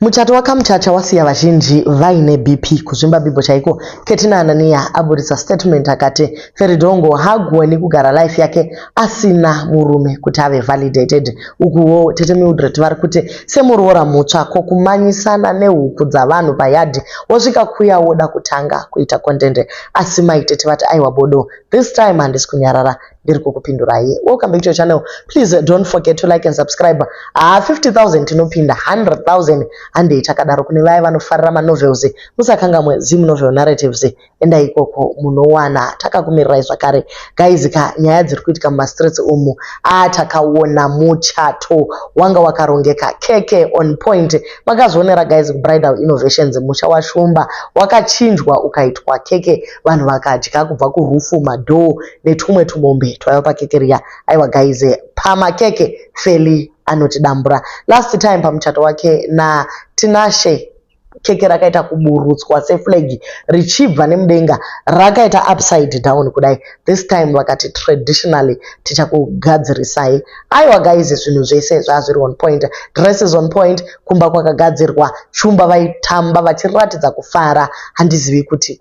Muchato waKamuchacha wasiya vazhinji vaine BP. Kuzvimba bhibho chaiko, Ketina Anania aburitsa statement akati Feridhongo haagoni kugara life yake asina murume kuti ave validated. Ukuwo tete Mildred vari kuti semuroora mutsva ko kumanyisana nehuku dzavanhu payadhi wosvika kuya woda kutanga kuita content. Asi mai tete vati aiwa bodo, this time handisi kunyarara. ndiri kukupindurai welcome back to your channel please don't forget to like and subscribe haa ah, 50000 tinopinda 100000 handei takadaro kune vaya vanofarira manovels musakangamwe zim novel narratives endai ikoko munowana takakumirirai zvakare guys ka nyaya dziri kuitika mumastreets umu aa ah, takaona muchato wanga wakarongeka keke on point makazvionera guys kubridal innovations musha washumba wakachinjwa ukaitwa keke vanhu vakadya kubva kurufu madhoo netumwe tubombe twaiva pakeke riya aiwa guys pamakeke feli anotidambura last time pamuchato wake natinashe keke rakaita kuburutswa seflag richibva nemudenga rakaita upside down kudai this time vakati traditionally tichakugadzirisai aiwa guys zvinhu zvese zvazviri on point dresses on point kumba kwakagadzirwa shumba vaitamba vachiratidza kufara handizivi kuti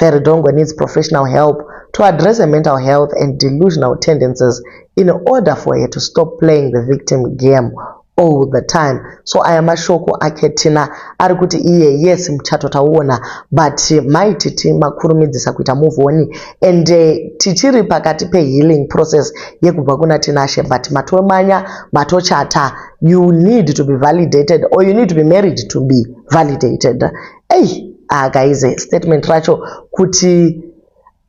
Veridongwe needs professional help to address her mental health and delusional tendencies in order for her to stop playing the victim game all the time so aya mashoko ake tina ari kuti iye yes muchato tauona but mai titi makurumidzisa kuita move on and eh, tichiri pakati pehealing process yekubva kuna tinashe but matomanya matochata you need to be validated or you need to be married to be validated Ei, ah guys, statement racho kuti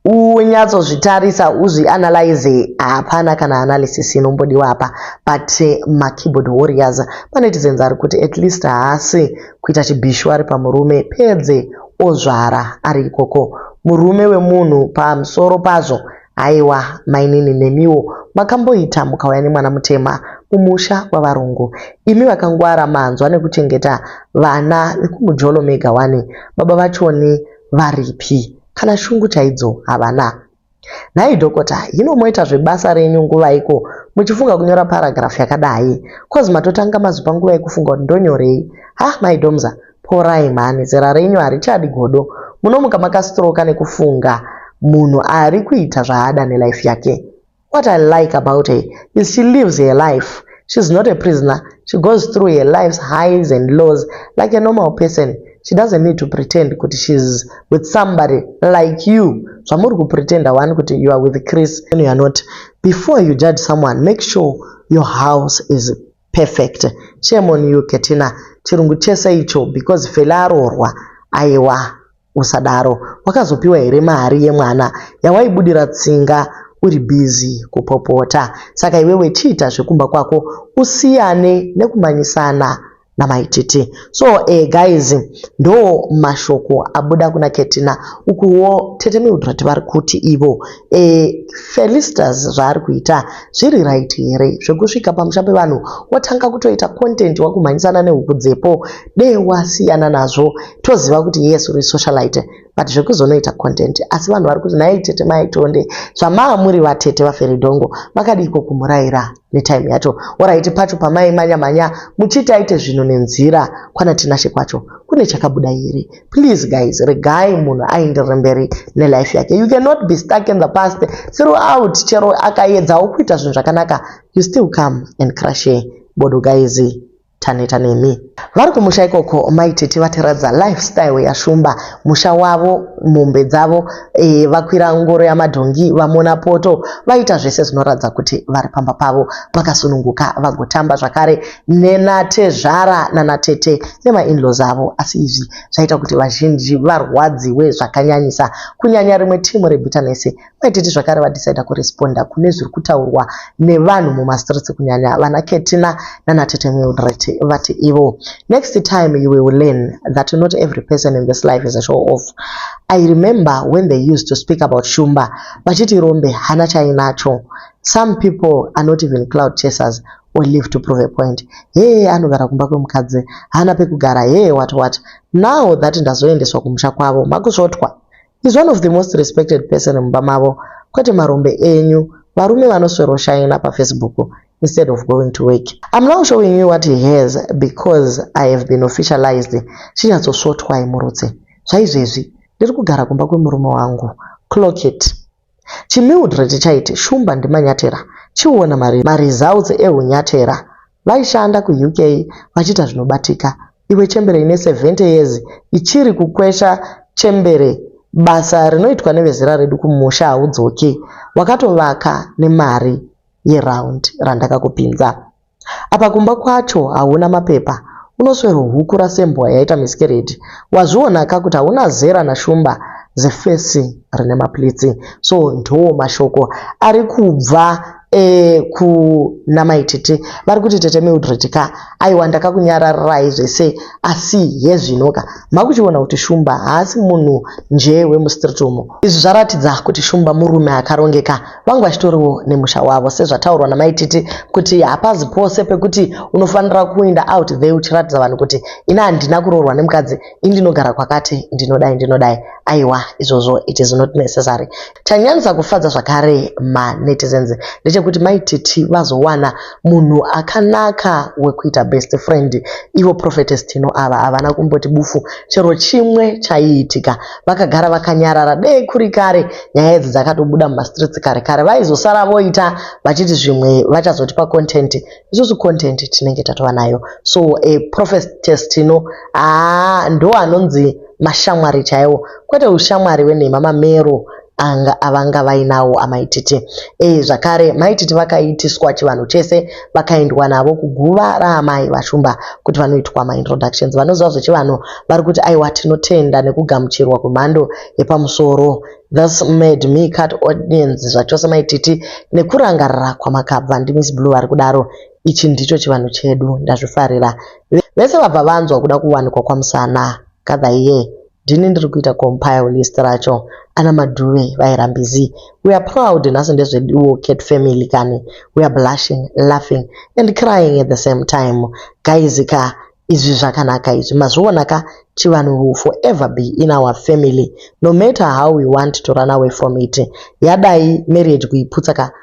unyatsozvitarisa uzvianalyze hapana kana analysis inombodiwa apa but eh, makeyboard warriors manetizens ari kuti at least haasi kuita chibhishu ari pamurume pedze ozvara ari ikoko murume wemunhu pamusoro pazvo Haiwa mainini nemiwo makamboita mukauya nemwana mutema kumusha kwavarungu imi vakangwara manzwa nekuchengeta vana vekumujolo mega wani baba vachoni varipi kana shungu chaidzo havana nhai dhokota hino moita zvebasa renyu nguvaiko muchifunga kunyora paragraph yakadai coz matotanga mazopa nguva yekufunga kuti ndonyorei ha maidomza Porai mhani, zera renyu harichadi godo. Munomuka makastroka nekufunga munhu ari kuita zvaada nelife yake. What I like about her is she lives her life. She's not a prisoner. She goes through her life's highs and lows like a normal person. She doesn't need to pretend kuti she's with somebody like you. Zvamuri kupretenda wani kuti you are with Chris. You are not. Before you judge someone, make sure your house is Perfect. Shame on you Ketina. Chirungu chese icho because Fela aroorwa. Aiwa. Usadaro. Wakazopiwa here mari yemwana yawaibudira tsinga uri busy kupopota. Saka iwewe chiita zvekumba kwako usiyane nekumanyisana namaititi. So eh, guys ndo mashoko abuda kuna Ketina. Ukuwo Tete Mildred vari kuti ivo e, Felistas zvaari kuita zviri right here zvekusvika pamusha pevanhu wotanga kutoita content wakumhanyisana nehuku dzepo dee wasiyana nazvo toziva kuti yes uri socialite but zvekuzonoita content asi vanhu vari kuti nhai tete maitonde zvamaamuri vatete vaferidhongo vakadiiko kumuraira netime yacho oraiti pacho pamai manya manya muchiti aite zvinhu nenzira kwana tinashe kwacho kune chakabuda here please guys regai munhu aenderere mberi nelife yake you cannot be stuck in the past throughout chero akaedzawo kuita zvinhu zvakanaka you still come and crushe bodo guys taneta nemi. Vari kumusha ikoko mai tete vatiratidza lifestyle yaShumba, musha wavo, mombe dzavo, e, vakwira ngoro yamadhongi, vamona poto, vaita zvese zvinoratidza kuti vari pamba pavo vakasununguka vagotamba zvakare nenatezvara nanatete nemainlaws avo. Asi izvi zvaita kuti vazhinji varwadziwe zvakanyanyisa, kunyanya rimwe timu reBitterness Kwetete zvakare vadecida kuresponda kune zviri kutaurwa nevanhu mumastreets kunyanya vana Ketina nana Tete Mildred vati ivo next time you will learn that not every person in this life is a show off. I remember when they used to speak about Shumba vachiti rombe hana chainacho. Some people are not even cloud chasers or live to prove a point. Hee anogara kumba kwemukadzi hana pekugara hee what what. Now that ndazoendeswa kumusha kwavo makusvotwa He's one of the most respected person mumba mavo kwete marombe enyu varume vanosweroshaina pafacebook instead of going to work. I'm now showing you what he has because I have been officialized chinyatsosvotwai murutse zvaizvezvi ndiri kugara kumba kwemurume wangu clock it Chimildred chaiti Shumba ndiManyatera chiona mari maresults ehunyatera vaishanda kuUK vachiita zvinobatika iwe chembere ine 70 years ichiri kukwesha chembere basa rinoitwa nevezera redu kumusha haudzoki wakatovaka nemari yeround randakakupinza Apa kumba kwacho hauna mapepa unoswero hukura sembwa yaita miscarriage wazviona ka kuti hauna zera na shumba zefesi rine maplitsi so ndoo mashoko ari kubva e, kuna maititi vari kuti tete mildred ka aiwa ndakakunyararirai zvese asi hezvino ka makuchiona kuti shumba haasi munhu njee wemustreet umo izvi zvaratidza kuti shumba murume akarongeka vangu vachitoriwo nemusha wavo sezvataurwa namai titi kuti hapazi pose pekuti unofanira kuinda out there uchiratidza vanhu kuti ini handina kuroorwa nemukadzi ini ndinogara kwakati ndinodai ndinodai aiwa izvozvo it is not necessary chanyanyisa kufadza zvakare manetizens ndechekuti mai titi vazowana munhu akanaka wekuita best friend ivo prophetess tino ava havana kumboti bufu chero chimwe chaiitika vakagara vakanyarara dei kuri kare nyaya idzi dzakatobuda mumastreets kare kare vaizosara voita vachiti zvimwe vachazotipa content isusu content tinenge tatova nayo so a prophetess tino aa ndo anonzi mashamwari chaiwo kwete ushamwari wenhema mamero anga avanga vainawo amaititi e eh, zvakare maititi vakaitiswa chivanhu chese vakaendwa navo kuguva raamai vashumba kuti vanoitwa maintroductions vanoziva zvechivanhu vari kuti aiwa tinotenda nekugamuchirwa kwemhando yepamusoro this made me cut audience zvachose maititi nekurangarira kwamakabva ndimiss blue vari kudaro ichi ndicho chivanhu chedu ndazvifarira vese vabva vanzwa kuda kuwanikwa kwamusana kadhaiye Ndini ndiri kuita compile list racho. Ana Madhuve vairambizii? We are proud nhasi ndezveduwo Cat family kani. We are blushing, laughing and crying at the same time. Guys ka izvi zvakanaka izvi mazviona ka chivanhu will forever be in our family no matter how we want to run away from it. Yadai marriage kuiputsa ka